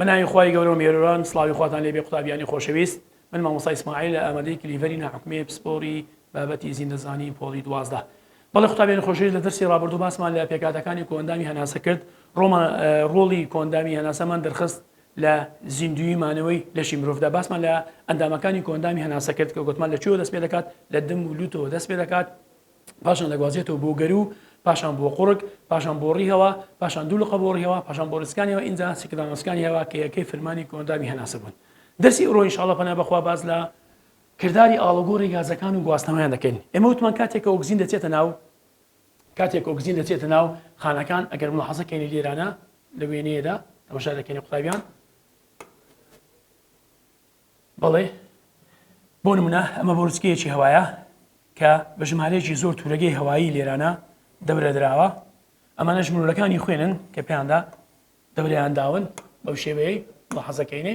بەناوی خوای گەورە و مێروران سڵاوی خواتان لێبێ قوتابیانی خۆشەویست من مامۆستا ئیسماعیل لە ئامادەی کلیڤەری ناحکومی پسپۆری بابەتی زیندەزانی پۆڵی دوازدە بەڵێ قوتابیانی خۆشەویست لە دەرسی ڕابردوو باسمان لە پێکهاتەکانی کۆئەندامی هەناسە کرد، ڕۆڵمان ڕۆڵی کۆئەندامی هەناسەمان دەرخست لە زیندووی مانەوەی لەشی مرۆڤدا، باسمان لە ئەندامەکانی کۆئەندامی هەناسە کرد کە گۆتمان لە کوێوە دەست پێدەکات لە دم و لوتەوە دەست پێدەکات پاشان دەگوازێتەوە بۆ گەروو پاشان بۆ قوڕگ پاشان بۆ ڕیهەوە پاشان دوو لقە بۆ ڕیهەوە پاشان بۆ ڕیزکانیەوە ئینجا سیکدانۆسکانی هەوا کە یەکەی فرمانی کۆئەندامی هەناسە بوون دەرسی ئەوڕۆ ئینشاڵڵە پەنا بەخوا باس لە کرداری ئاڵوگۆڕی گازەکان و گواستنەوەیان دەکەین. ئێمە وتمان کاتێک کە ئۆکزین دەچێتە ناو، کاتێک کە ئۆکزین دەچێتە ناو خانەکان، ئەگەر ملاحەزە کەینە لێرانە لە وێنەیەدا، تەماشا دەکەینە قوتابیان، بەڵێ بۆ نمونە ئەمە بۆرچکەیەکی هەوایە کە بە ژمارەیەکی زۆر تورەگەی هەوایی لێرانە دەورە دراوە، ئەمانەش مرۆلەکانی خوێنن کە پێیاندا دەوریان داون بەو شێوەیەی ملاحەزە کەینێ.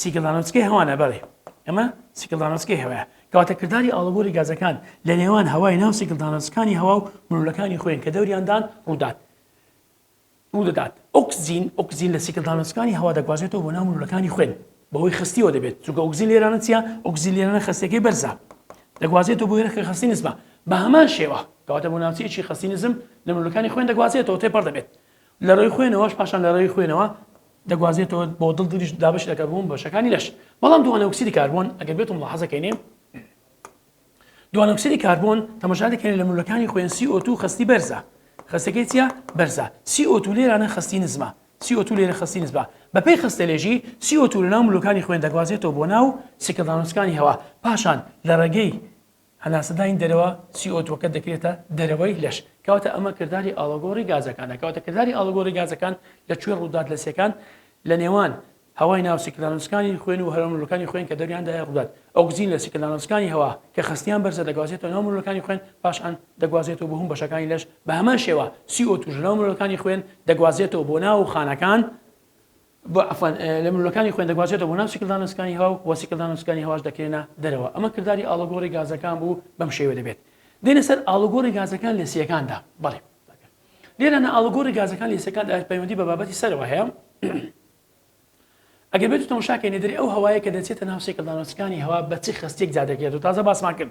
سیکلدانۆوسکی هەوانە بەڵێ ئەمە سیکلدانۆوسکی هەوایە کەواتە کرداری ئاڵوگۆری گازەکان لە نێوان هەوای ناو سیکلدانۆوسکانی هەوا و ملولەکانی خۆیان کە دەوریاندان ڕوودات ڕوو دەدات ئۆکسزین ئۆکسزین لە سیکلدانۆوسکانی هەوا دەگوازێتەوە بۆ ناو ملولەکانی خوێن بەوەی خستیەوە دەبێت چونکە ئۆکسزین لێرانە چیە ئۆکسزین لێرانە خستەکەی بەرزە دەگوازێتەوە بۆ هێرەکە خستی نزمە بە هەمان شێوە کەواتە بۆ ناوچەیەکی خستی نزم لە ملولەکانی خوێن دەگوازێتەوە تێپەڕ دەبێت لە ڕێی خوێنەوەش پاشان لە ڕێی خوێنەوە دەگوازێتەوە بۆ دڵ دڵیش دابەش لە کەربۆن بەشەکانی لەش بەڵام دووانەوکسری کاربۆن ئەگەر بێتم لە حەزەکەینێ دووانەوکسری کاربۆن تەمەشا دەکەین لە مولەکانی خوێن CO2 خستی بەرزە خستەکەی چیە بەرزە CO2 لێرانە خستی نزمە CO2 لێرە خستی نزبە بەپێی خستە لێژی CO2 لە ناو مولەکانی خوێن دەگوازێتەوە بۆ ناو سیکەدانوسکانی هەوا پاشان لە ڕێگەی هەناسەدانی دەرەوە، سی ئۆ تووەکە دەکرێتە دەرەوەی لەش، کەواتە ئەمە کرداری ئاڵۆگۆڕی گازەکانە، کەواتە کرداری ئاڵۆگۆڕی گازەکان لە کوێ ڕووداتلەسەکان لە نێوان هەوای ناو سیکلانۆسکانی خوێن و هەرەومرۆلەکانی خوێن کە دەوریاندایە ڕوودات، ئۆکزین لە سیکلانۆسکانی هەوا کە خستیان بەرزە دەگوازێتەوە ناو مرۆلەکانی خوێن پاش ان دەگوازێتەوە بۆهوم بەشەکانی لەش، بەهەمان شێوە سی ئۆ تووش لەناو مرۆلەکانی خوێن دەگوازێتەوە بۆ ناو خانەکان، عەفوەن، لە ملولەکانی خوێن دەگوازێتەوە بۆ ناو سیکلدانە سکانی هەوا و وە سیکلدانە سکانی هەواش دەکرێنە دەرەوە ئەمە کرداری ئاڵوگۆڕی گازەکان بوو بەم شێوە دەبێت دێنە سەر ئاڵوگۆڕی گازەکان لە سیەکاندا بەڵێ لێرە نە ئاڵوگۆڕی گازەکان لە سیەکاندا پەیوەندی بە بابەتی سەرەوە هەیە ئەگەر بێت تەماشاکەی نێدەری ئەو هەوایە کە دەچێتە ناو سیکلدانە سکانی هەوا بە چ خستێک جادەکرێت و تازە باسمان کرد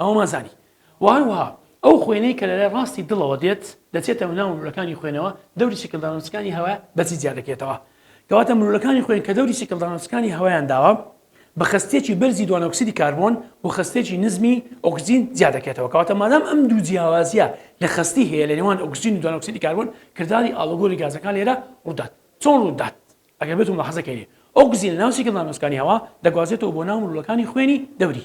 ئەوەمان زانی و هەروەها ئەو خوێنەی کە لەلای ڕاستی دڵەوە دێت دەچێتە ناو ملوولەکانی خوێنەوە دەوری چیکلدانۆسەکانی هەوا بەجی جیا دەکرێتەوە کەواتە ملوولەکانی خوێن کە دەوری چیکلدانۆسەکانی هەوایان داوە بە خەستیەکی بەرزی دوانۆکسیدی کاربۆن و خەستیەکی نزمی ئۆکسجین جیا دەکرێتەوە کەواتە مادام ئەم دوو جیاوازیە لە خەستی هەیە لە نێوان ئۆکسجین و دوانۆکسیدی کاربۆن کرداری ئاڵوگۆری گازەکان لێرە ڕوودات چۆن ڕوودات ئەگەر بێتون ملاحەزە کەینێ ئۆکسجین لە ناو چیکلدانۆسەکانی هەوا دەگوازێتەوە بۆ ناو ملوولەکانی خوێنی دەوری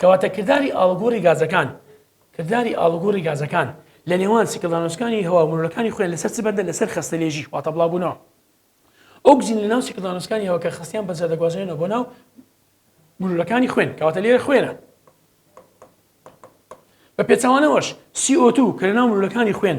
کەواتە کرداری ئاڵوگۆڕی گازەکان کرداری ئاڵوگۆڕی گازەکان لە نێوان سیکلدانۆسکانی هەوا و مرۆلەکانی خۆیان لەسەر چ بەندە لەسەر خەستەلێژی واتە بڵاوبوونەوە ئۆکسجین لە ناو سیکلدانۆسکانی هەوا کە خستیان بەجا دەگوازێنەوە بۆ ناو مرۆلەکانی خوێن کەواتە لێرە خوێنە بە پێچوانەوەش CO2 کە لە ناو مرۆلەکانی خوێن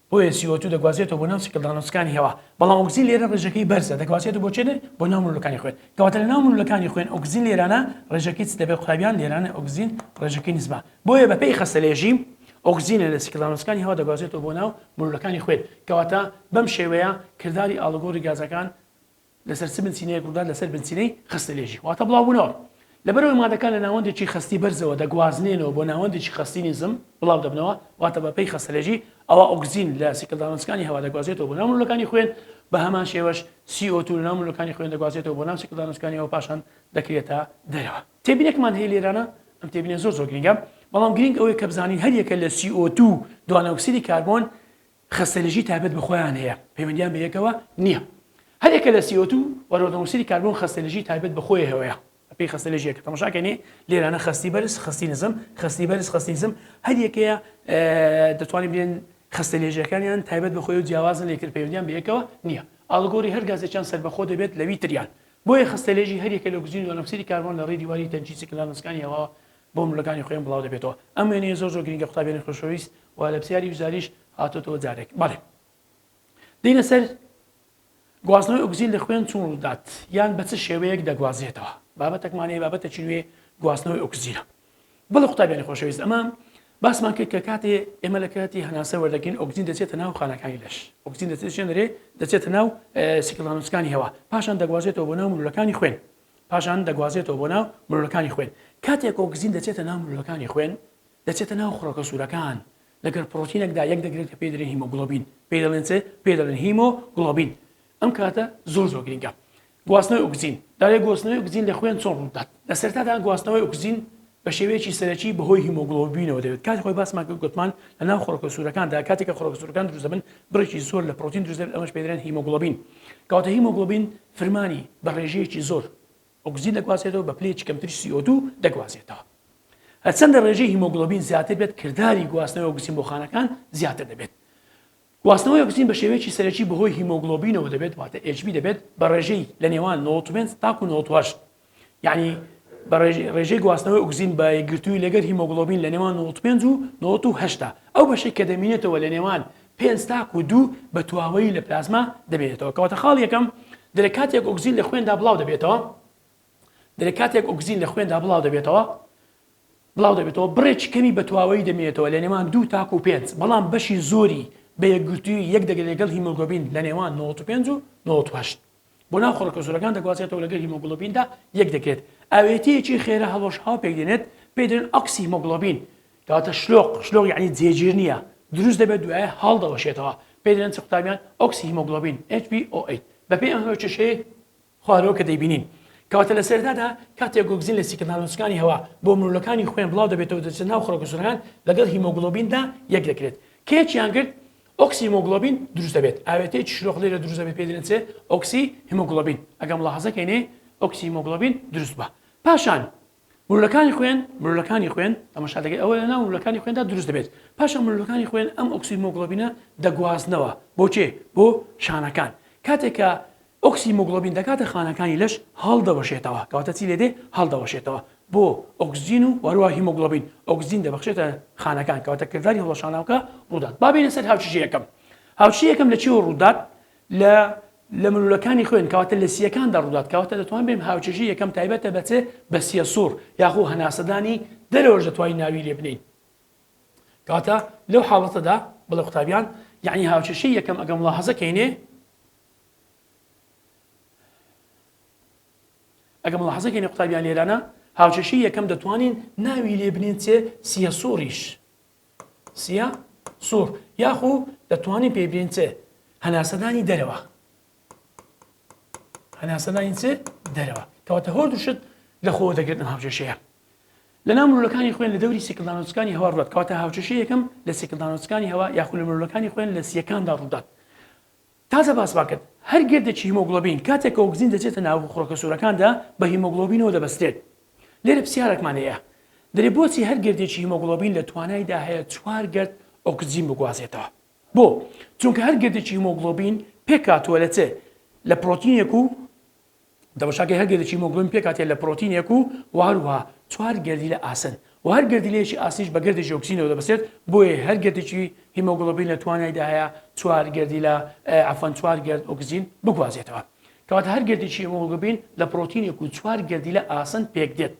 بۆیە سی ئۆ توو دەگوازرێتەوە بۆ ناو سیکلدانۆسەکانی هەوا، بەڵام ئۆکسجین لێرە ڕێژەکەی بەرزە، دەگوازرێتەوە بۆ چێنێ؟ بۆ ناو ملوولەکانی خوێن. کەواتە لە ناو ملوولەکانی خوێن ئۆکسجین لێرانە ڕێژەکەی چ دەبێت قوتابیان؟ لێرانە ئۆکسجین ڕێژەکەی نزمە. بۆیە بە پێی خەستەلێژی، ئۆکسجینە لە سیکلدانۆسەکانی هەوا دەگوازرێتەوە بۆ ناو ملوولەکانی خوێن. کەواتە بەم شێوەیە کرداری ئاڵوگۆڕی گازەکان لەسەر چ بنچینەیەک ڕوودات لەسەر بنچینەی خستەلێژی واتە بڵاوبوونەوە لەبەرئەوەی مادەکان لە ناوەندێکی خەستی بەرزەوە دەگوازنێنەوە بۆ ناوەندێکی خەستی نزم بڵاو دەبنەوە واتە بەپێی خستەلێژی ئەوا ئۆکسجین لە سیکلدانەوەچکانی هەوا دەگوازێتەوە بۆ ناو ملولەکانی خوێن بە هەمان شێوەش CO2 لە ناو ملولەکانی خوێن دەگوازێتەوە بۆ ناو سیکلدانەوەچکانیەوە پاشان دەکرێتە دەرەوە تێبینێکمان هەیە لێرانە ئەم تێبینێ زۆر زۆر گرنگە بەڵام گرنگ ئەوەیە کە بزانین هەریەکە لە CO2 دوانەئۆکسیدی کاربۆن خەستەنێژی تایبەت بە خۆیان هەیە، پەیوەندیان بە یەکەوە نییە. هەر یەکە لە سی ئۆ توو و رۆدەموکسیدی کاربۆن خەستەنێژی تایبەت بە خۆیهوەیە بە پێی خەستەنێژی یەکە. تەماشا کەنێ لێرانە خەستی بەرز، خەستی نزم، خەستی بەرز، خەستی نزم، هەر یەکەیە دەتوانین بلێن خەستەنێژیەکانیان تایبەت بە خۆی و جیاوازن لە یەکتر پەیوەندیان بە یەکەوە نییە. ئاڵوگۆری هەر گازێکیان سەربەخۆ دەبێت لە وی تریان. بۆیە خەستەنێژی هەر یەکە لە ئۆکسجین و دۆنەکسیدی کاربۆن لە ڕێی دیواری تەنکی سکلانسکانی هەواوە بۆ ملەکانی خۆیان بڵاو دەبێتەوە ئەم وێنەیە زۆر زۆر گرینگە قوتابیانی خۆشەویست وە لە پسیاری وزاریش هاتۆتەوە جارێک بەڵێ دینە سەر گواستنەوەی ئۆگزین لە خوێن چون ڕودات یان بە چ شێوەیەک دەگوازێتەوە بابەتەکمانەیە بابەتە چینوێ گواستنەوەی ئۆکسزیرە بەڵ قوتابیانی خۆشەویست ئەمە باسمان کرد کە کاتێ ئێمە لە کاتی هەناسە وەردەگرین ئۆگزین دەچێتە ناو خانەکانی لەش ئۆگزین دەچێت شوێنەرێ دەچێتە ناو سیکلانوسکانی هەوا پاشان دەگوازێتەوە بۆ ناو ملولەکانی خوێن پاشان دەگوازێتەوە بۆ ناو مرۆلەکانی خوێن، کاتێک ئۆکزین دەچێتە ناو مرۆلەکانی خوێن دەچێتە ناو خڕۆکە سوورەکان، لەگەر پڕۆتینێکدا یەک دەگرن کە پێی دەلێن هیمۆگڵۆبین، پێی دەڵێن چ؟ پێی دەڵێن هیمۆ گڵۆبین، ئەم کاتە زۆر زۆر گرینگە. گواستنەوەی ئۆکزین، دەڵێ گۆستنەوەی ئۆکزین لە خوێن چۆن ڕوودەدات؟ لە سەرەتادا گواستنەوەی ئۆکزین بە شێوەیەکی سەرەکی بەهۆی هیمۆگڵۆبینەوە دەبێت، کاتی خۆی باسمان کرد گوتمان لەناو خڕۆکە سوورەکاندا کاتێک کە خڕۆکە سوورەکان دروست دەبن بڕێکی زۆر لە پڕۆتین دروست دەبێت ئەمەش پێ دەرێن هیمۆگڵۆبین کەواتە هیمۆگڵۆبین فرمانی بە ڕێژەیەکی زۆر ئۆکسجین دەگوازێتەوە بە پلەیەکی کەمتری CO2 دەگوازێتەوە هەرچەندە ڕێژەی هیمۆگڵۆبین زیاتر بێت کرداری گواستنەوەی ئۆکسجین بۆ خانەکان زیاتر دەبێت گواستنەوەی ئۆکسجین بە شێوەیەکی سەرەکی بەهۆی هیمۆگڵۆبینەوە دەبێت واتە HB دەبێت بە ڕێژەی لە نێوان نۆزدە و پێنج تاکوو نۆزدە و هەشت یانی بە ڕێژەی گواستنەوەی ئۆکسجین بە یەکگرتووی لەگەر هیمۆگڵۆبین لە نێوان نۆزدە و پێنج و نۆزدە و هەشت ئەو بەشەی کە دەمینێتەوە لە نێوان پێنج تاکوو دوو بە تواوەیی لە پلازما دەمینێتەوە کەواتە خاڵ یەکەم دەرێ کاتێک ئۆکسجین لە خوێندا بڵاو دەبێتەوە دەرێ کاتێک ئۆکسجین لە خوێندا بڵاو دەبێتەوە بڵاو دەبێتەوە، بڕێکی کەمی بە تواوەیی دەمینێتەوە لە نێوان دوو تاکوو پێنج، بەڵام بەشی زۆری بە یەکگرتوویی یەک دەگرێت لەگەڵ هیمۆگلۆبین لە نێوان نەوەد و پێنج و نەوەد و هەشت بۆ ناو خۆڕکە زۆرەکان دەگوازرێتەوە لەگەر هیمۆگلۆبیندا یەک دەگرێت، ئاوێتەیەکی خێرا هەڵوەشاوە پێک دێنێت پێی دەلێن ئۆکسی هیمۆگلۆبین کەواتە شلۆق، شلۆق یانی جێگیر نییە، دروست دەبێت دوایە هەڵدەوەشێتەوە پێی دەلێن چ قوتابیان ئۆکسی هیمۆگلۆبین، HBOH، بەپێی ئەم هۆچەشەی. خوارەوە کە دەیبینین. کەواتە لە سەرەتادا کاتێک ئۆکزین لە سیکرد نانۆسەکانی هەوا بۆ مرۆلەکانی خوێن بڵاو دەبێتەوە دەچێتە ناو خڕۆکە سورەکان لەگەڵ هیمۆگڵۆبیندا یەک دەکرێت کە یەکیان گرت ئۆکسی هیمۆگڵۆبین دروست دەبێت ئاوێتەیەکی شلۆق لێرە دروست دەبێت پێ دەنێت ئۆکسی هیمۆگڵۆبین ئەگەم لاحەزەکەینێ ئۆکسی هیمۆگڵۆبین دروست بە پاشان ملولەکانی خوێن، ملولەکانی خوێن، تەماشا دەکەیت ئەوە لەناو ملولەکانی خوێندا دروست دەبێت، پاشان ملولەکانی خوێن ئەم ئۆکسیمۆگڵۆبینە دەگوازنەوە بۆ کێ؟ بۆ شانەکان، کاتێک کە ئۆکسیمۆگڵۆبین دەکاتە خانەکانی لەش هەڵدەوەشێتەوە، کەواتە چی لێدێ؟ هەڵدەوەشێتەوە بۆ ئۆکسجین و هەروەها هیمۆگڵۆبین ئۆکسجین دەبەخشێتە خانەکان، کەواتە کرداری هەڵوەشانەوەکە ڕوودات. با بێینە سەر هاوچیژی یەکەم، هاوچیژی یەکەم لە چیوە ڕوودات؟ لە لە ملولەکانی خوێن کەواتە لە سییەکاندا ڕوودات کەواتە دەتوان بێم هاوچەژی یەکەم تایبەتە بە چ بە سییە سوڕ یاخۆ هەناسەدانی دەرەوەش دەتوانین ناوی لێ بنین کەواتە لەو حاڵەتەدا بڵێ قوتابیان یعنی هاوچەشی یەکەم ئەگەم وڵا حەزەکەینێ ئەگەم وڵا حەزەکەینێ قوتابیان لێرانە هاوچەشی یەکەم دەتوانین ناوی لێ بنین چێ سییە سوڕیش سیە سوڕ یاخو دەتوانین پێی بلێن چ هەناسەدانی دەرەوە هەناسەدانی چ دەرەوە کەواتە هۆ دوشت لە خۆ دەگرن هاوجێشەیە لە نامرولەکانی خوێن لە دەوری سیکلدانۆچکانی هەوا ڕات کەواتە هاوچەشە یەکەم لە سیکلدانۆچکانی هەوا یاخو لە مرولەکانی خوێن لە سیەکاندا ڕوودات تازە باسمان کرد هەر گردێکی هیمۆگڵۆبین کاتێک کە ئۆکسجین دەچێتە ناو خڕۆکە سوورەکاندا بە هیمۆگڵۆبینەوە دەبەسترێت. لێرە پرسیارێکمان هەیە دەرێ بۆچی هەر گردێکی هیمۆگڵۆبین لە توانایدا هەیە چوار گرد ئۆکسجین بگوازێتەوە؟ بۆ؟ چونکە هەر گردێکی هیمۆگڵۆبین پێکهاتووە لە چ؟ لە پرۆتینێک و دەمەشاکەی هەر گەردیکی مۆگلۆبین پێکهاتەیە لە پرۆتینێک و وە هەروەها چوار گەردیلە ئاسن وە هەر گەردیلەیەکی ئاسنیش بە گەردێکی ئۆکسجینەوە دەبەستێت بۆیە هەر گەردیکی هیمۆگلۆبین لە توانایدا هەیە چوار گەردیلە عەفوەن چوار گەرد ئۆکسجین بگوازێتەوە کەواتە هەر گەردیکی هیمۆگلۆبین لە پرۆتینێک و چوار گەردیلە ئاسن پێکدێت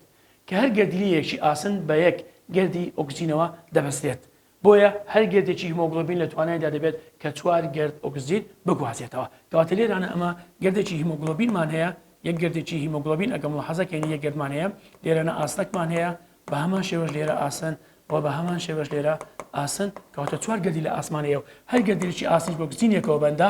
کە هەر گەردیلەیەکی ئاسن بە یەک گەردی ئۆکسجینەوە دەبەستێت بۆیە هەر گردێکی هیمۆگڵۆبین لە توانایدا دەبێت کە چوار گرد ئۆکسجین بگوازێتەوە. کەواتە لێرانە ئەمە گردێکی هیمۆگڵۆبینمان هەیە، یەک گردێکی هیمۆگڵۆبین ئەگەر مولاحەزە کەین یەک گردمان هەیە، لێرەنا ئاسنەکمان هەیە، بە هەمان شێوەش لێرە ئاسن و بە هەمان شێوەش لێرە ئاسن، کەواتە چوار گردی لە ئاسمان هەیە و هەر گردێکی ئاسنیش بە ئۆکسجینێکەوە بەندە،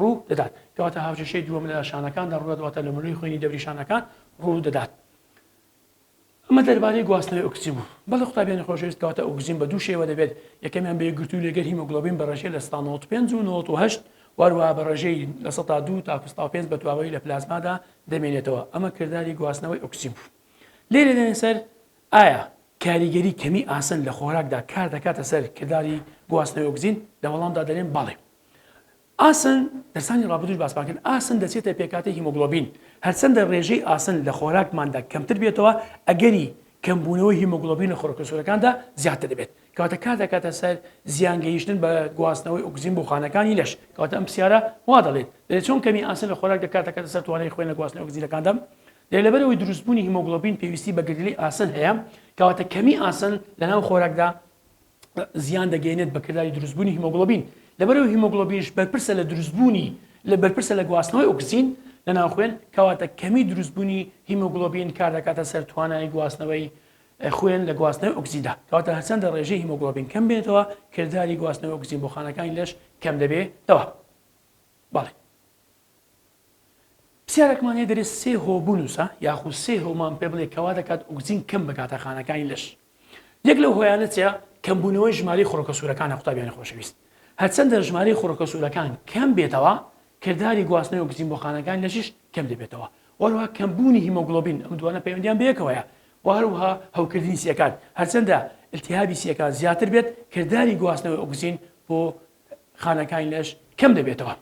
ڕوو دەدات کەواتە هاوکێشەی دووەم لە شانەکاندا ڕوو دەدواتە لە ملوی خوێنی دەوری شانەکان ڕوو دەدات ئەمە دەربارەی گواستنەوەی ئۆکسجین بوو بەڵێ قوتابیانی خۆشەویست کەواتە ئۆکسجین بە دوو شێوە دەبێت یەکەمیان بە یەکگرتوو لەگەر هیمۆگلۆبین بە ڕێژەی لە 95 و 98 واروها بە ڕێژەی لە 102 تا 25 بە تواوەی لە پلازمادا دەمێنێتەوە ئەمە کردداری گواستنەوەی ئۆکسجین بوو لێرە دێنێ سەر ئایا کاریگەری کەمی ئاسن لە خۆراکدا کار دەکاتە سەر کردداری گواستنەوەی ئۆکسجین لە وەڵامدا دەرێن بەڵێ ئاسن، دەرسانی ڕابردووش باسمان کرد، ئاسن دەچێتە پێکهاتەی هیمۆگڵۆبین، هەرچەندە ڕێژەی ئاسن لە خۆراکماندا کەمتر بێتەوە، ئەگەری کەمبوونەوەی هیمۆگڵۆبین لە خۆراکە سوورەکاندا زیاتر دەبێت، کەواتە کار دەکاتە سەر زیان گەیشتن بە گواستنەوەی ئۆکسجین بۆ خانەکانی لەش، کەواتە ئەم پرسیارە وا دەڵێت، دەڵێت چۆن کەمی ئاسن لە خۆراکدا کار دەکاتە سەر توانای خوێن لە گواستنەوەی ئۆکسجینەکاندا؟ دەڵێت لەبەرئەوەی دروستبوونی هیمۆگڵۆبین پێویستی بە گەردیلەی ئاسن هەیە، کەواتە کەمی ئاسن لەناو خۆراکدا، زیان دەگەینێت بە کرداری دروستبوونی هیمۆگڵۆبین، لەبەرئەوەی هیمۆگڵۆبینش بەرپرسە لە دروستبوونی لە بەرپرسە لە گواستنەوەی ئۆکسجین لە ناو خوێن، کەواتە کەمی دروستبوونی هیمۆگڵۆبین کار دەکاتە سەر توانای گواستنەوەی خوێن لە گواستنەوەی ئۆکسجیندا، کەواتە هەرچەندە ڕێژەی هیمۆگڵۆبین کەم بێتەوە کرداری گواستنەوەی ئۆکسجین بۆ خانەکانی لەش کەم دەبێتەوە. بەڵێ. پرسیارێکمان هەیە دەرێ سێ هۆ بنووسە یاخود سێ هۆمان پێ بڵێ کەوا دەکات ئۆکزین کەم بکاتە خانەکانی لەش یەک لەو هۆیانە چیا کەمبوونەوەی ژماری خۆرۆکە سوورەکانە قوتابیانی خۆشەویست هەرچەندە ژماری خۆرۆکە سوورەکان کەم بێتەوە کردداری گواستنەوەی ئۆکزین بۆ خانەکان لەشیش کەم دەبێتەوە وەروها کەمبوونی هیمۆگلۆبین ئەم دوانە پەیوەندیان بەیەکەوەیە وهروها هەوکردنی سیەکان هەرچەندە التهابی سیەکان زیاتر بێت کردداری گواستنەوەی ئۆکزین بۆ خانەکانی لەش کەم دەبێتەوە.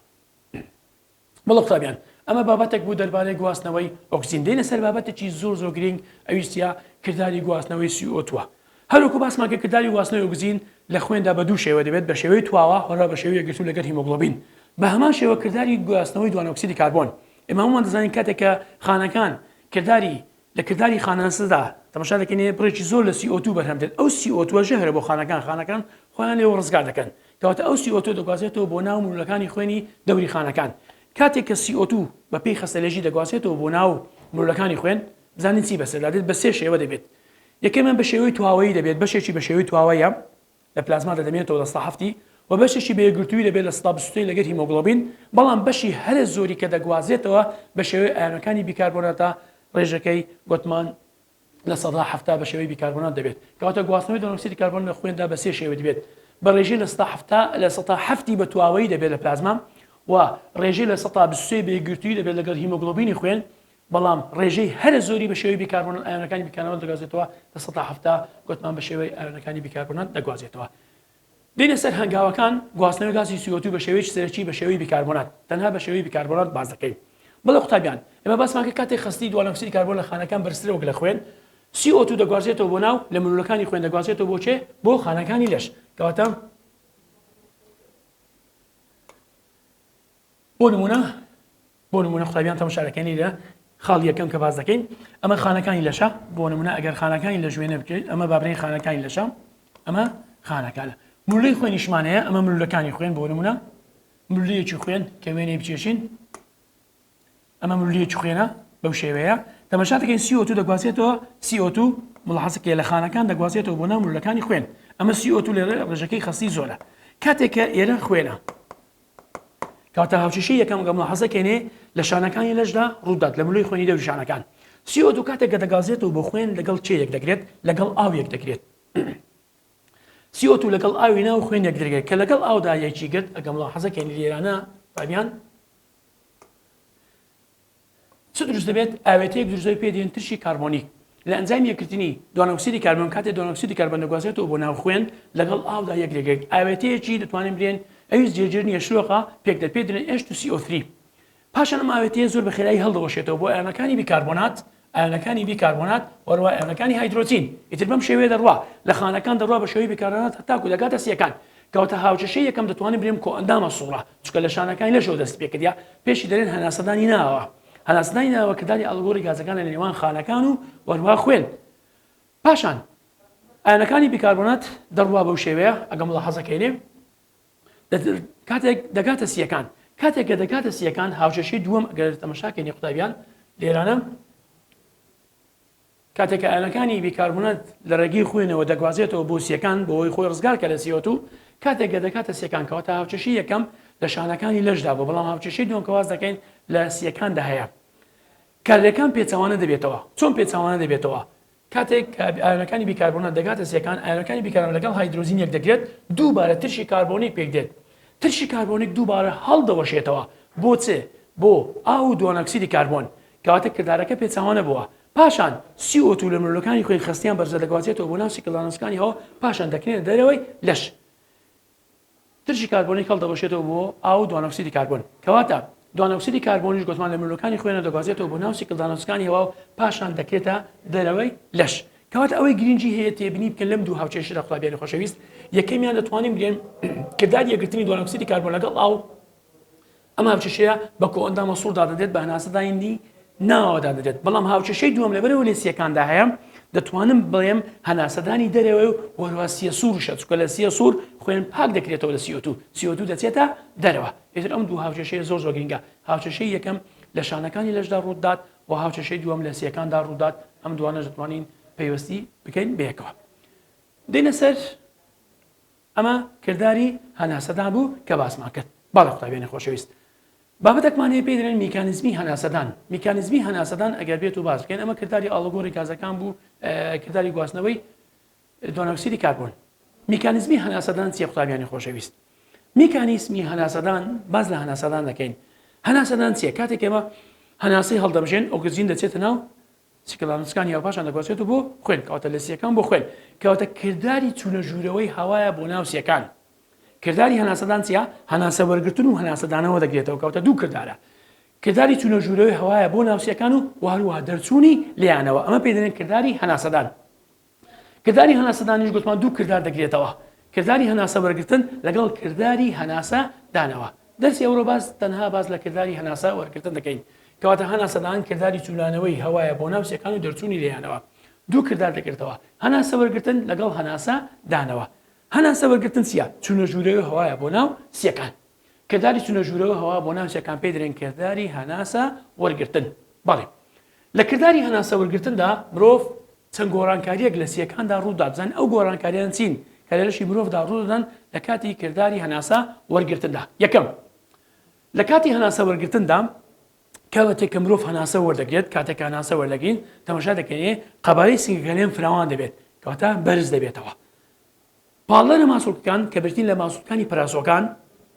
مەڵە قوتابیان ئەمە بابەتێک بوو دەربارەی گواستنەوەی ئۆکسجین دێنە سەر بابەتێکی زۆر زۆر گرینگ ئەویش چیە کرداری گواستنەوەی سی ئۆ توە هەروەکو باسمان کە کرداری گواستنەوەی ئۆکسجین لە خوێندا بە دوو شێوە دەبێت بە شێوەی تواوە هەروە بە شێوەی یەکگرتوو لەگەر هیمۆگڵۆبین بە هەمان شێوە کرداری گواستنەوەی دوانۆکسیدی کاربۆن ئێمە هەموومان دەزانین کاتێک کە خانەکان کرداری لە کرداری خانەنسدا تەمەشا دەکەین بڕێکی زۆر لە سی ئۆ توو بەرهەم دێت، ئەو سی ئۆ تووە ژەهرە بۆ خانەکان، خانەکان خۆیان لێوە ڕزگار دەکەن، کەواتە ئەو سی ئۆ تووە دەگوازرێتەوە بۆ ناو ملوولەکانی خوێنی دەوری خانەکان، کاتێک کە سی ئۆ توو بە پێی خەستەلێژی دەگوازرێتەوە بۆ ناو ملوولەکانی خوێن، بزانین چی بەسەردا دێت، بە سێ شێوە دەبێت، یەکەمیان بە شێوەی تواوەیی دەبێت، بەشێکی بە شێوەی تواوەیە، لە پلازما دەدەمێنێتەوە لە ستا هەفتی و بەشێکی بە یەکگرتووی دەبێت لە ستا بیست و لەگەر هیمۆگڵۆبین، بەڵام بەشی هەرە زۆری کە دەگوازێتەوە بە شێوەی ئایۆنەکانی بیکاربۆناتە ڕێژەکەی گۆتمان لە سەدا حەفتا بە شێوەی بیکاربۆنات دەبێت. کەواتە گواستنەوەی دەرۆکسیدی کاربۆن لە خوێندا بە سێ شێوە دبێت بە ڕێژەی لە ستا حەفتا لە سەدا حەفتی بە تواوەیی دەبێت لە پلازما و ڕێژەی لە سەدا بیست و سێ بە یەکگرتووی دەبێت لەگەڵ هیمۆگڵۆبینی خوێن بەڵام ڕێژەی هەرە زۆری بە شێوەی بیکاربوونەوە ئایۆنەکانی بیکاربوونەوە دەگوازێتەوە لە سەدا حەفتا گوتمان بە شێوەی ئایۆنەکانی بیکاربوونەوە دەگوازێتەوە دێنە سەر هەنگاوەکان گواستنەوەی گازی سیۆتو بە شێوەیەکی سەرەکی بە شێوەی بیکاربوونەوە تەنها بە شێوەی بیکاربوونەوە باس دەکەین بەڵێ قوتابیان ئێمە باسمان کرد کاتێک خەستی دوانەکسیدی کاربۆن لە خانەکان بەرزترە وەک لە خوێن CO2 دەگوازێتەوە بۆ ناو لە ملولەکانی خوێن دەگوازێتەوە بۆ چێ بۆ خانەکانی لەش کەواتە بۆ نمونە بۆ نموونە قوتابیان تەماشا دەکەن لیرە خاڵی یەکەم کە باس دەکەین ئەمە خانەکانی لەشە بۆ نموونە ئەگەر خانەکانی لە ژوێنە بکەیت ئەمە بابرین خانەکانی لەشە ئەمە خانەکانە ملوی خوێنیشمانەیە ئەمە ملولەکانی خوێن بۆ نموونە ملویەکی خوێن کە وێنەی بچێشین ئەمە ملویەکی خوێنە بەو شێوەیە تەماشا دەکەین CO2 دەگوازێتەوە CO2 مڵحەسکێ لە خانەکان دەگوازێتەوە بۆ نامولەکانی خوێن ئەمە CO2 لێرە ڕژەکەی خەستی زۆرە کاتێکە ئێرە خوێنە کەواتە هاوکێشەی یەکەم گەمڵە حەزەکەێنێ لە شانەکانی لەشدا ڕوودات لە ملوی خوێنی دەوری شانەکان سیۆ دوو کاتێک کە دەگازێتەوە بۆ خوێن لەگەڵ چێ یەک دەگرێت لەگەڵ ئاو یەک دەگرێت سیۆتو لەگەڵ ئاوی ناو خوێن یەک درگێت کە لەگەڵ ئاودا یەکی گرت ئەگەمڵە حەزەکەێنی لێرانە تابیان چ دروست دەبێت؟ ئاوێتەیەک دروست دەبێت پێی دەین ترشی کاربۆنیک، لە ئەنجامی یەکگرتنی دۆنۆکسیدی کاربۆن، کاتێک دۆنۆکسیدی کاربۆن دەگوازرێتەوە بۆ ناو خوێن لەگەڵ ئاودا یەک لەگێک ئاوێتەیەکی دەتوانین بلێن ئەویس جێگیر نیە شلۆقە پێک دێت پێی دەلێن H2CO3 پاشان ئەم ئاوێتەیە زۆر بە خێرایی هەلدەوەشێتەوە بۆ ئایۆنەکانی بیکاربۆنات ئایۆنەکانی بیکاربۆنات وە هەروەها ئایۆنەکانی هایدرۆجین ئیتر بەم شێوەیە دەڕوا لە خانەکان دەڕوا بە شێوەی بیکاربۆنات هەتاکو دەگاتە سیەکان کەواتە هاوکێشەی یەکەم دەتوانین بلێم کۆئەندامە سوڕە چونکە لە شانەکانی لەشەوە دەستی پێکردە پێشی دەلێن هەناسەدانی ناوە هەناسەدانی ناوە کە دانی ئەڵگۆری گازەکان لە نێوان خانەکان و وەروها خوێن پاشان ئاەنەکانی بیکاربۆنات دەڕوا بەو شێوەیە ئەگەم لە حەزەکەێ کاتێک دەگاتە سیەکان کاتێک کە دەگاتە سیەکان هاوشەشی دووەم ئەگەر تەمەشاکەێنی قوتابیان لێرانە کاتێک کە ئایۆنەکانی بیکاربونات لە ڕێگەی خوێنەوە دەگوازێتەوە بۆ سیەکان بۆ ئەوەی خۆی ڕزگار کە لە سیۆ توو کاتێک گە دەکاتە سیەکان کەواتە هاوچەشی یەکەم لە شانەکانی لەشدا بۆ بەڵام هاوچەشی دوم کەواز دەکەین لە سیەکاندا هەیە کارلەکان پێچەوانە دەبێتەوە چۆن پێچەوانە دەبێتەوە کاتێک ئایۆنەکانی بیکاربوونە دەگاتە سیەکان ئایۆنەکانی بیکارەوە لەگەڵ هایدروزین یەک دەگرێت دووبارە ترشی کاربۆنیک پێک دێت ترشی کاربۆنیک دووبارە هەڵدەوەشێتەوە بۆ چێ بۆ ئاو و دوانەکسیدی کاربۆن کەواتە کردارەکە پێچەوانە بووە. پاشان سی ئۆ توو لە مرۆلەکانی خوێن خەستیان بەرزە دەگوازێتەوە بۆ ناو سیکلانۆسکانی هەوا پاشان دەکرێنە دەرەوەی لەش. ترشی کاربۆنیک هەڵدەوەشێتەوە بۆ ئاو و دوانۆکسیدی کاربۆن. کەواتە دوانۆکسیدی کاربۆنیش گۆتمان لە مرۆلەکانی خوێنە دەگوازێتەوە بۆ ناو سیکلدانۆسکانی هەوا و پاشان دەکرێتە دەرەوەی لەش. کەواتە ئەوەی گرینگی هەیە تێبینی بکەن لەم دوو هاوچێشتە قوتابیانی خۆشەویست، یەکەمیان دەتوانین بلێن کرداری یەکگرتنی دوانۆکسیدی کاربۆن لەگەڵ ئاو ئەم هاوکێشەیە بە کۆئەندامە سوڕ دادەنرێت بە هەناسەدا هیندی ناوەوە دادەنرێت بەڵام هاوکێشەی دووەم لەبەرەوە لە سییەکاندا هەیە دەتوانم بڵێم هەناسەدانی دەرەوەی و وەروا سیە سوورشە چکە لە سیە سوور خوێن پاک دەکرێتەوە لە سیۆتو سیۆتو دەچێتە دەرەوە ئێتر ئەم دوو هاوکێشەیە زۆر زۆر گرنگە هاوکێشەی یەکەم لە شانەکانی لەشدا ڕوودات و هاوکێشەی دووەم لە سیەکاندا ڕوودات ئەم دوانە دەتوانین پەیوەستی بکەین بەیەکەوە دێنە سەر ئەمە کرداری هەناسەدان بوو کە باسمان کرد. بەڵێ قوتابیانی خۆشەویست. بابەتەکمان هەیە پێی دەلێن میکانیزمی هەناسەدان. میکانیزمی هەناسەدان ئەگەر بێت و باس بکەین ئەمە کرداری ئاڵوگۆری گازەکان بوو کرداری گواستنەوەی دۆنۆکسیدی کاربۆن. میکانیزمی هەناسەدان چیە قوتابیانی خۆشەویست؟ میکانیزمی هەناسەدان باس لە هەناسەدان دەکەین. هەناسەدان چیە؟ کاتێک ئێمە هەناسەی هەڵدەمژێن ئۆکسجین دەچێتە ناو سیکلانسکان یاو پاشان دەگوازێتەوە بۆ خوێن کەواتە لە سیەکان بۆ خوێن کەواتە کرداری چوونە ژوورەوەی هەوایە بۆ ناو سیەکان کرداری هەناسەدان چیە هەناسە وەرگتن و هەناسەدانەوە دەگرێتەوە کەوتە دوو کردارە کرداری چوونە ژوورەوەی هەوایە بۆ ناوسیەکان و وهروها دەرچوونی لیانەوە ئەمە پێدەێن کرداری هەناسەدان کرداری هەناسە دانیش گوتمان دوو کردار دەگرێتەوە کرداری هەناسە وەرگرتن لەگەڵ کرداری هەناسە دانەوە دەرسی ئەورۆ باس تەنها باس لە کرداری هەناسە وەرگرتن دەکەین کەواتە هەناسەدان کرداری چولانەوەی هەوایە بۆ ناو سێکان و دەرچوونی لێیانەوە دوو کردار دەگرێتەوە هەناسە وەرگرتن لەگەڵ هەناسە دانەوە هەناسە وەرگرتن چیە چونە ژوورەوە هەوایە بۆ ناو سیەکان کرداری چونە ژوورەوە هەوا بۆ ناو سیەکان پێدرێن کرداری هەناسە وەرگرتن بەڵێ لە کرداری هەناسە وەرگرتندا مرۆڤ چەند گۆڕانکارییەک لە سییەکاندا ڕوودا، بزانین ئەو گۆڕانکارییانە چین کە لە لەشی مرۆڤدا ڕوودەدەن لە کاتی کرداری هەناسە وەرگرتندا. یەکەم، لە کاتی هەناسە وەرگرتندا کاتێک کە مرۆڤ هەناسە وەردەگرێت، کاتێک کە هەناسە وەردەگرین تەماشا دەکەین قەبارەی سنگەکانی فراوان دەبێت کەواتە بەرز دەبێتەوە. پاڵنەرە ماسولکەکان کە بریتین لە ماسولکانی پرازۆگان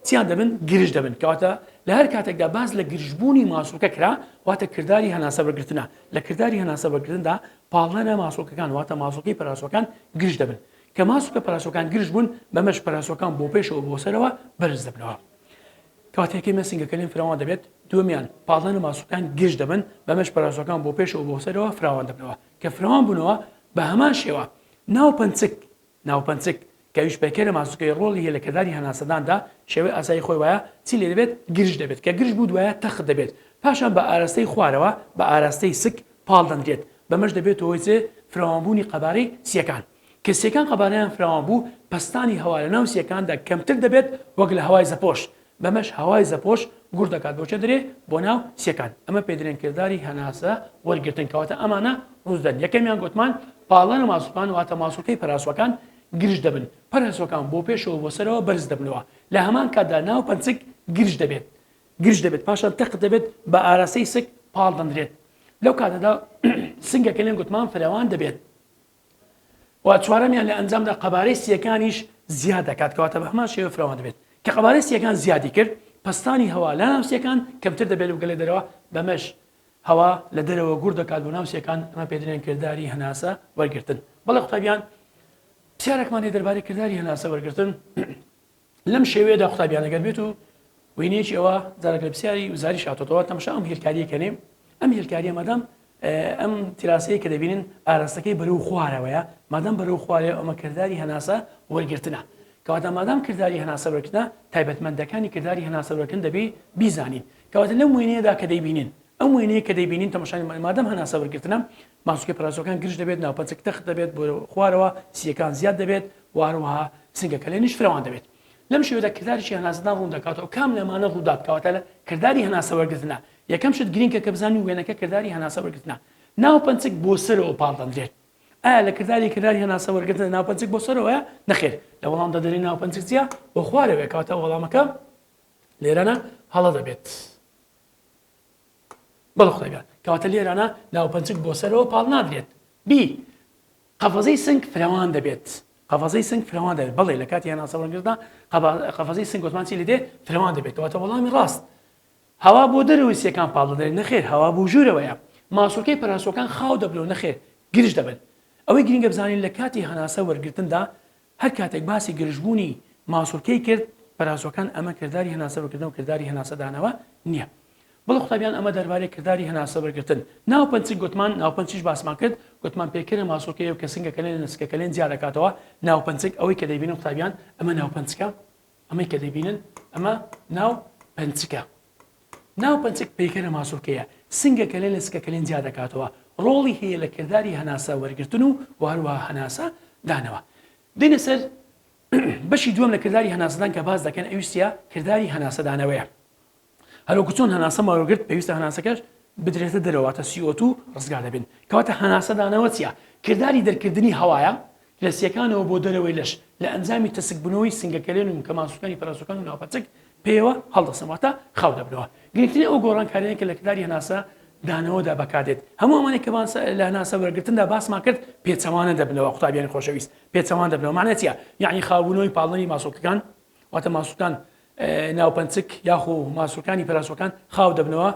چیان دەبن گرژ دەبن کەواتە لە هەر کاتێکدا باس لە گرژبوونی ماسولکە کرا واتە کردداری هەناسە بەگرتنە لە کردداری هەناسە بەگرندا پاڵنەرە ماسولکەکان واتە ماسولکەی پراسۆکان گرژ دەبن کە ماسولکە پراسۆکان گرژ بوون بەمەش پراسۆکان بۆ پێشەوە بۆ سەرەوە بەرز دەبنەوە کاتێکی مەسنگەکەلیم فراوان دەبێت دومیان پاڵنەر ماسوکان گشت دەبن بەمەش پراسەکان بۆ پێشەوە بۆ سەرەوە فراوان دەبنەوە کە فراوان بوونەوە بە هەمان شێوە ناوپەنچک، ناوپەنچک، کە ئەویش پەیکەرە ماسوولکەیە ڕۆڵی هەیە لە کرداری هەناسەداندا، شێوەی ئاسایی خۆی وایە چی لێ دەبێت گرژ دەبێت، کە گرژ بوو دوایە تەخت دەبێت، پاشان بە ئاراستەی خوارەوە بە ئاراستەی سک پاڵ دەنرێت، بەمەش دەبێتە هۆی چێ فراوانبوونی قەبارەی سییەکان. کە سییەکان قەبارەیان فراوان بوو، پەستانی هەوا لە ناو سییەکاندا کەمتر دەبێت وەک لە هەوای زەپۆش، بەمەش هەوای زەپۆش گوڕ دەکات بۆ چەدرێ بۆ ناو سیەکان ئەمە پێدرێن کرداری هەناسە وەرگرتن کەواتە ئەمانە ڕوز دەن یەکەمیان گۆتمان پاڵنەرە ماسولکان واتە ماسولکەی پەراسوەکان گرژ دەبن پەرەسوەکان بۆ پێشەوە بۆ سەرەوە بەرز دەبنەوە لە هەمان کاتدا ناو پەنسک گرژ دەبێت گرژ دەبێت پاشان تەق دەبێت بە ئاراستەی سک پاڵ دەندرێت لەو کاتەدا سنگەکەلیان گۆتمان فراوان دەبێت و چوارەمیان لە ئەنجامدا قەبارەی سییەکانیش زیاد دەکات کەواتە بە هەمان شێوە فراوان دەبێت کە قەبارەی سییەکان زیادی کرد پەستانی هەوا لە ناو سییەکان کەمتر دەبێت و گەلێ دەرەوە بەمەش هەوا لە دەرەوە گوڕ دەکات بۆ ناو سییەکان ئەمە پێ دەرێن کرداری هەناسە وەرگرتن بەڵێ قوتابیان پرسیارێکمان هەیە دەربارەی کرداری هەناسە وەرگرتن لەم شێوەیەدا قوتابیان ئەگەر بێت و وینەیەکی ئەوە جارێک لە پرسیاری وزاری شاتۆتەوە تەمشا ئەم هێلکاریە کەنێ ئەم هێلکاریە مادەم ئەم تراسەیە کە دەبینن ئاراستەکەی بەرەو خوارەوەیە مادەم بەرەو خوارێ ئەمە کردداری هەناسە وەرگرتنە کەواتە مادام کردداری هەناسە وەرگنا تایبەتمەندەکانی کردداری هەناسە وەرگن دەبی بیزانین کەواتە لەم وێنەیەدا کە دەیبینین ئەم وێنەیە کە دەیبینین تەمەشانی مادەم هەناسە وەرگتنە ماسولکە پەراسۆکان گرژ دەبێت، ناوپەنچەک تەخت دەبێت بۆ خوارەوە، سییەکان زیاد دەبێت و هەروەها سنگە کەلێنیش فرەوان دەبێت. لەم شێوەیەدا کرداریی هەناسەدان ڕوون دەکاتەوە کام لەمانە ڕوودات کەواتە لە کرداری هەناسە وەرگرتنە. یەکەم شت گرینکە کە بزانین وێنەکە کرداری هەناسە وەرگرتنە ناوپەنچەک بۆ سەرەوە پاڵدەندرێت. ئایا لە کرداری کرداری هەناسە وەرگرتنە ناوپەنچەک بۆ سەرەوەیە؟ نەخێر. لە وەڵامدا دەلێین ناوپەنچەک چییە؟ بۆ خوارەوەیە کەواتە وەڵامەکە لێرەنا هەڵە دەبێت. بەڵ خۆێگە کەواتە لێرانە ناوپەنچک بۆ سەرەوە پاڵ نادرێت بی قەفەزەی سنگ فرەوان دەبێت قەفەزەی سنگ فرەوان دەبێت بەڵێ لە کاتی هێناسەوەگردا قەفەزەی سنگ گوتمانچی لە دێ فرەوان دەبێت کەواتە وەڵامی ڕاست هەوا بۆ دەرەوەی سیەکان پاڵ دەدرێت نەخێر هەوا بۆ ژوورەوەیە ماسوولکەی پەراسۆکان خاو دەبن و نەخێر گرژ دەبن ئەوەی گرنگە بزانین لە کاتی هەناسە وەرگتندا هەر کاتێک باسی گرژبوونی مازوولکەی کرد، پەراسۆکان ئەمە کرداری هەناسەبەرگرتنەو کرداری هەناسەدانەوە نیە. بەڵێ قوتابیان ئەمە دەربارەی کرداری هەناسەبەرگرتن، ناوپنچک گوتمان ناوپنچیش باسمان کرد گوتمان پێکەرە ماسوولکەیەو کە سنگە کەلێنە لە سکە کەلێن جیا دەکاتەوە، ناوپنچک ئەوەی کە دەیبینن قوتابیان ئەمە ناوپنچکە ئەمەی کە دەیبینن ئەمە ناو پنچکە. ناوپەنچەک پەیکەرە ماسولکەیە، سنگەکەلێن لە سکەکەلێن جیا دەکاتەوە، ڕۆڵی هەیە لە کرداری هەناسە وەرگرتن و و هەروەها هەناسە دانەوە. دێینە سەر بەشی دووەم لە کرداری هەناسەدان کە باس دەکەن ئەویش چیە؟ کرداری هەناسە دانەوەیە. هەروەکو چۆن هەناسەم وەرگرت پێویستە هەناسەکەش بدرێتە دەرەوە واتە CO2 ڕزگار دەبێن. کەواتە هەناسە دانەوە چیە؟ کرداری دەرکردنی هەوایە لە سیەکانەوە بۆ دەرەوەی لەش، لە ئەنجامی تەسک بونەوەی سنگە کەلێن و مکە ماسولکانی پەرەسوکان و ناوپەچک پێیەوە هەڵدەسن واتە خاو دەبنەوە. گرنگترین ئەو گۆڕانکاریانەی کە لە کرداری هەناسە دانەوەدا بەکاردێت هەموو ئەمانەی کە باس لە هەناسە وەرگرتندا باسمان کرد پێچەوانە دەبنەوە قوتابیانی خۆشەویست پێچەوان دەبنەوە مەعنای چیە یەعنی خاو بونەوەی پاڵنەری ماسولکەکان واتە ماسولکان ناوپەنچک یاخو ماسولکانی پەرەسوکان خاو دەبنەوە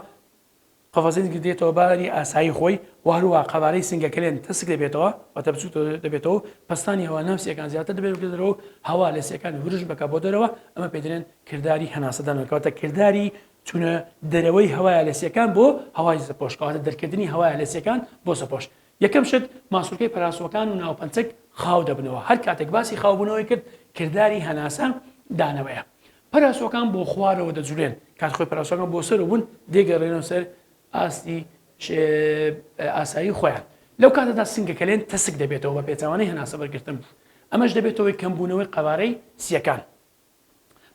قەفەزێن کردێتەوە باری ئاسایی خۆی و هەروەها قەبارەی سنگەکەێن تەسک دەبێتەوە واتە بچووک دەبێتەوە و پەستانی هەوا ناو سیەکان زیاتر دەبێت بکە دەرەوە هەوا لە سیەکان ورش بکە بۆ دەرەوە ئەمە پێدرێن کردداری هەناسەدانەکەواتە کردداری چونە دەرەوەی هەوایە لە سیەکان بۆ هەوای زەپۆشکەواتە دەرکردنی هەوایە لە سیەکان بۆ سەپۆش یەکەم شت ماسوولکەی پەراسوەکان و ناوپەنچەک خاو دەبنەوە هەر کاتێک باسی خاوبوونەوەی کرد کردداری هەناسە دانەوەیە پەراسۆکان بۆ خوارەوە دەجولێن کات خۆی پەراسۆکان بۆ سەر و بوون دێگەڕێنەوە سەر ئاستی ئاسایی خۆیان لەو کاتەدا سنگە کەلێن تەسک دەبێتەوە بە پێچوانەی هەناسە بەرگرتن ئەمەش دەبێتەوەی کەمبوونەوەی قەوارەی سیەکان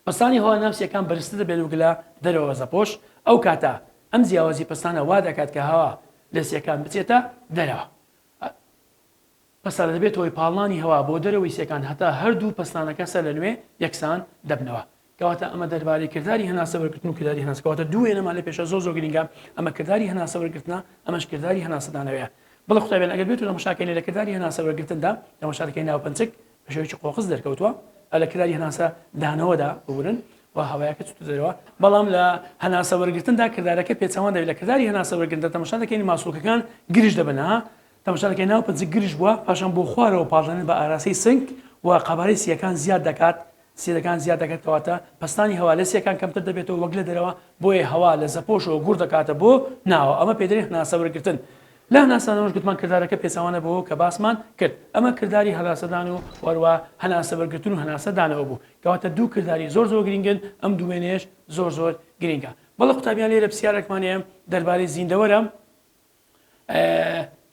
پستانی هەوا ناوسیەکان بەرزتر دەبێت وگلە دەرەوە زەپۆش ئەو کاتە ئەم جیاوازی پستانە وا دەکات کە هەوا لە سیەکان بچێتە دەرەوە پەستان دەبێتە هۆی پاڵنانی هەوا بۆ دەرەوەی سێکان هەتا هەردوو پەستانەکە سەرلەنوێ یەکسان دەبنەوە کەواتە ئەمە دەربارەی کرداری هەناسە وەرگرتن و کرداری هەناسە کەواتە دوو وێنەمان لە پێشە زۆر زۆر گرینگە ئەمە کرداری هەناسە وەرگرتنە ئەمەش کرداری هەناسە دانەوەیە بەڵێ قوتابیان ئەگەر بێتو تەماشا کەین لە کرداری هەناسە وەرگرتندا تەماشا دەکەین ناوپەنچک بە شێوەیەکی قۆقز دەرکەوتووە لە کرداری هەناسە دانەوەدا ببورن و هەوایەکە چوتە دەرەوە بەڵام لە هەناسە وەرگرتندا کردارەکە پێچەوان دەبێت لە کرداری هەناسە وەرگرتندا تەماشا دەکەین ماسولکەکان گرژ دەبن ها تەمەشاکەی ناو پەنجە گرژ بووە، پاشان بۆ خوارەوە پاڵدانەر بە ئاراستەی سنگ و قەبارەی سییەکان زیاد دەکات، سییەکان زیاد دەکات کەواتە پەستانی هەوا لە سییەکان کەمتر دەبێتەوە وەک لە دەرەوە، بۆیە هەوا لە زەپۆشەوە گوڕ دەکاتە بۆ ناوەوە، ئەمە پێدەرین هەناسە وەرگرتن. لە هەناسەدانەوەش گوتمان کردارەکە پێچەوانە بەوە کە باسمان کرد، ئەمە کرداری هەراسەدان و هەروا هەناسە وەرگرتن و هەناسە دانەوە بوو، کەواتە دوو کرداری زۆر زۆر گرینگن، ئەم دووێنەیەش زۆر زۆر گرینگە. بەڵێ قوتابیان لێرە پسیارەکمان هەیە دەربارەی زیندەوەرە.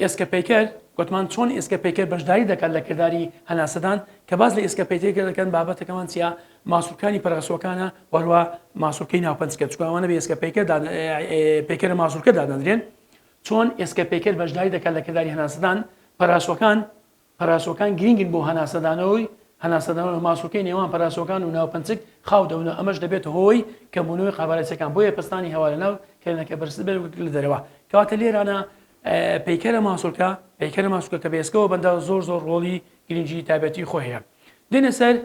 ئێسکە پەیکەر، گۆتمان چۆن ئێسکە پەیکەر بەشداری دەکات لە کرداری هەناسەدان، کە باس لە ئێسکە پەیتەکر دەکەن بابەتەکەمان چیە ماسولکانی پەرەغەسوەکانە و هەروە ماسولکەی ناو پەنجکە چونکە ئەوانە بە ئێسکە پەیکەر دادە پەیکەرە ماسولکە دادەندرێن چۆن ئێسکە پەیکەر بەشداری دەکات لە کرداری هەناسەدان پەراسوەکان پەراسۆکان گرینگن بۆ هەناسەدانەوەی هەناسەدانەوە ماسولکەی نێوان پەراسۆکان و ناوپنچک خاو دەبنەوە ئەمەش دەبێتە هۆی کەمبونەوەی قەبارەچیەکان بۆیە پەستانی هەوا لەناو کەرێنەکە بەرزتر بێت وەک لە دەرەوە کەواتە لێرانە پەیکەرە ماسولکە پەیکەرە ماسولکە کە بە ئێسکەوە بەندە زۆر زۆر ڕۆڵی گرینگی تایبەتی خۆی هەیە دێنە سەر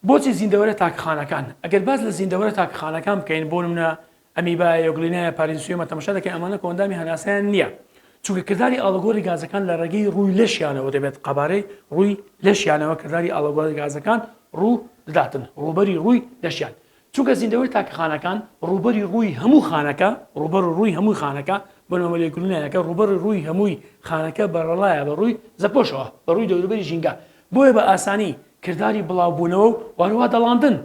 بۆچی زیندەوەرە تاکخانەکان؟ ئەگەر باس لە زیندەوەرە تاکخانەکان بکەین، بۆ نمونە ئەمیبا، یۆگلینایا پارینسیۆما تەمەشا دەکەین ئەمانە کۆئەندامی هەناسەیان نییە، چونکە کرداری ئاڵوگۆری گازەکان لە ڕێگەی ڕووی لەشیانەوە دەبێت، قەبارەی ڕووی لەشیانەوە کرداری ئاڵوگۆری گازەکان ڕوو دەداتن، ڕووبەری ڕووی لەشیان چونکە زیندەوەری تاکە خانەکان ڕووبەری ڕووی هەموو خانەکە ڕووبەر و ڕووی هەمووی خانەکە بە نۆمە لێکولینایەکە ڕووبەڕی ڕووی هەمووی خانەکە بەرەڵایە بە ڕووی زەپۆشەوە بە ڕووی دەوروبەری ژینگە بۆیە بە ئاسانی کرداری بڵاوبوونەوە و وهەروەها دەڵاندن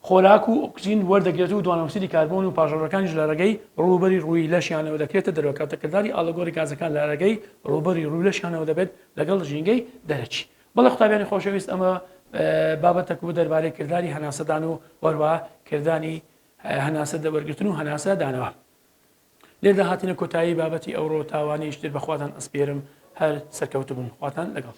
خۆراک و ئۆکسجین وەردەگرێت و دوانۆکسیدی کاربۆن و پاژەڕەکانیش لە ڕێگەی ڕووبەری ڕووی لەشیانەوە دەکرێتە دەرەوە کاتە کرداری ئاڵۆگۆڕی گازەکان لە ڕێگەی ڕووبەری ڕووی لەشیانەوە دەبێت لەگەڵ ژینگەی دەرەکی بەڵێ قوتابیانی خۆشەویست ئەمە بابەتەک بوو دەربارەی کرداری هەناسەدان و وەروە کردانی هەناسە دەبەرگرتن و هەناسە دانەوە لێدا هاتینە کۆتایی بابەتی ئەوڕۆ تاوانی شتر بەخواتان ئەسپێرم هەر سەرکەوت بن خواتان لەگەڵ.